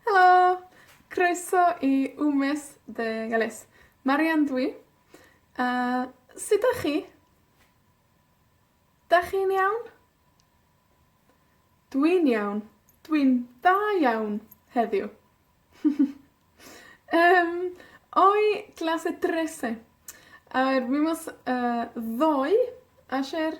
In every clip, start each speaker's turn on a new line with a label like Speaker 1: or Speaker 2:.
Speaker 1: Helo! Croeso i Wmes dde Elis. Marian dw i, a sud 'dach chi? 'Dach chi'n iawn? Dwi'n iawn. Dwi'n da iawn, heddiw. Yym, hoy clase trece. Yr wythnos, yy, ddoe, es i'r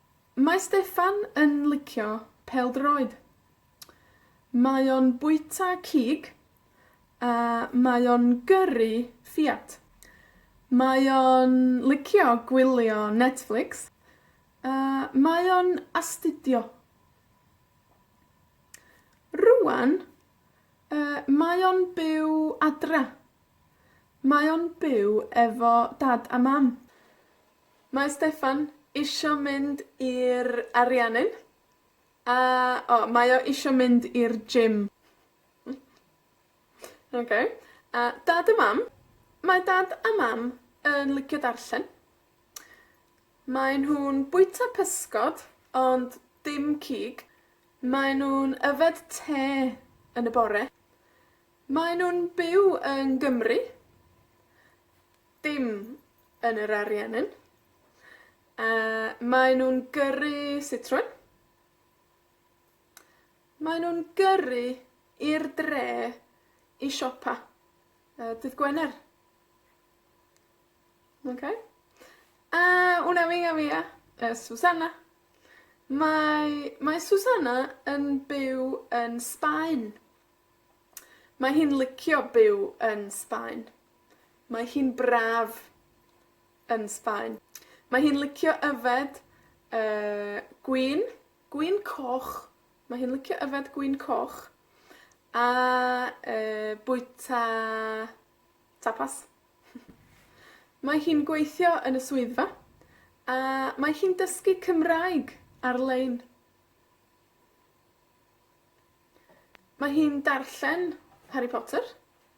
Speaker 1: Mae Steffan yn licio pêl-droed. Mae o'n bwyta cig, a mae o'n gyrru Fiat. Mae o'n licio gwylio Netflix, a mae o'n astudio. Rŵan, yy, mae o'n byw adra. Mae o'n byw efo dad a mam. Mae Steffan isho mynd i'r Ariannin, a, o, mae o isho mynd i'r gym. Oce. A Dad a Mam, mae Dad a Mam yn licio darllen. Mae nhw'n bwyta pysgod, ond dim cig. Mae nw'n yfed te yn y bore. Mae nw'n byw yng Gymru. Dim yn yr Ariennin. A, mae nw'n gyrru sitrwyn. Mae nw'n gyrru i'r dre i siopa, yy, dydd Gwener. Oce? A, una amiga mia es Susana. Mae, mae Susana yn byw yn Sbaen. Mae hi'n licio byw yn Sbaen. Mae hi'n braf yn Sbaen. Mae hi'n licio yfed, yy, gwin, gwin coch. Mae hi'n licio yfed gwin coch, a, yy, bwyta tapas. Mae hi'n gweithio yn y swyddfa, a mae hi'n dysgu Cymraeg ar-lein. Mae hi'n darllen Harry Potter.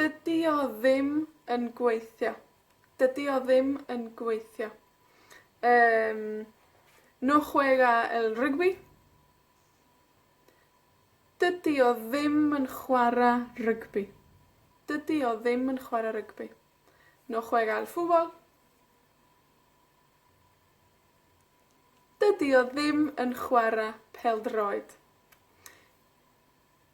Speaker 1: Dydi o ddim yn gweithio. Dydi o ddim yn gweithio. Yym, no juega el rugby. Dydi o ddim yn chwara rygbi. Dydi o ddim yn chwara rygbi. No juega el fútbol. Dydi o ddim yn chwara pêl-droed.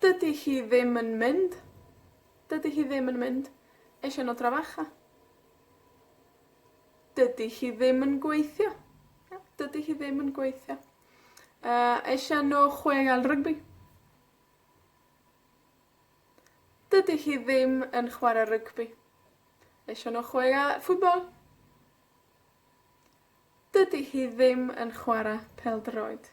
Speaker 1: Dydi hi ddim yn mynd. Dydi hi ddim yn mynd. Es i â nw dra facha. Dydi hi ddim yn gweithio. Ia? Dydi hi ddim yn gweithio. Yy, es i â nw chweuel rygbi. Dydi hi ddim yn chware rygbi. Es i â nw chweuel football. Dydi hi ddim yn chwara pêl-droed.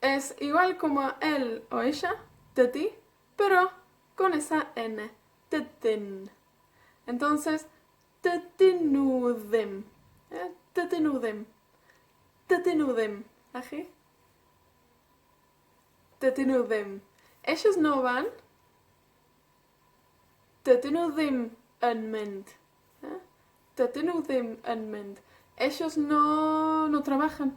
Speaker 1: Es igual como él o ella, dydi, pero con esa ene, dydyn. Entonces, dydyn nw ddim. Ie? Dydyn nw ddim. Dydyn nw ddim. A chi? Dydyn nw ddim. Ellos no van. Dydyn nw ddim yn mynd. Ie? Dydyn nw ddim yn mynd. Ellos no no trabajan.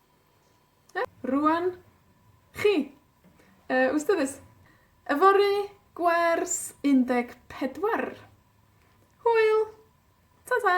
Speaker 1: Iawn? Rŵan, chi. Yy, wrth gwrs, yfory, gwers, un deg pedwar. Hwyl! Ta ta!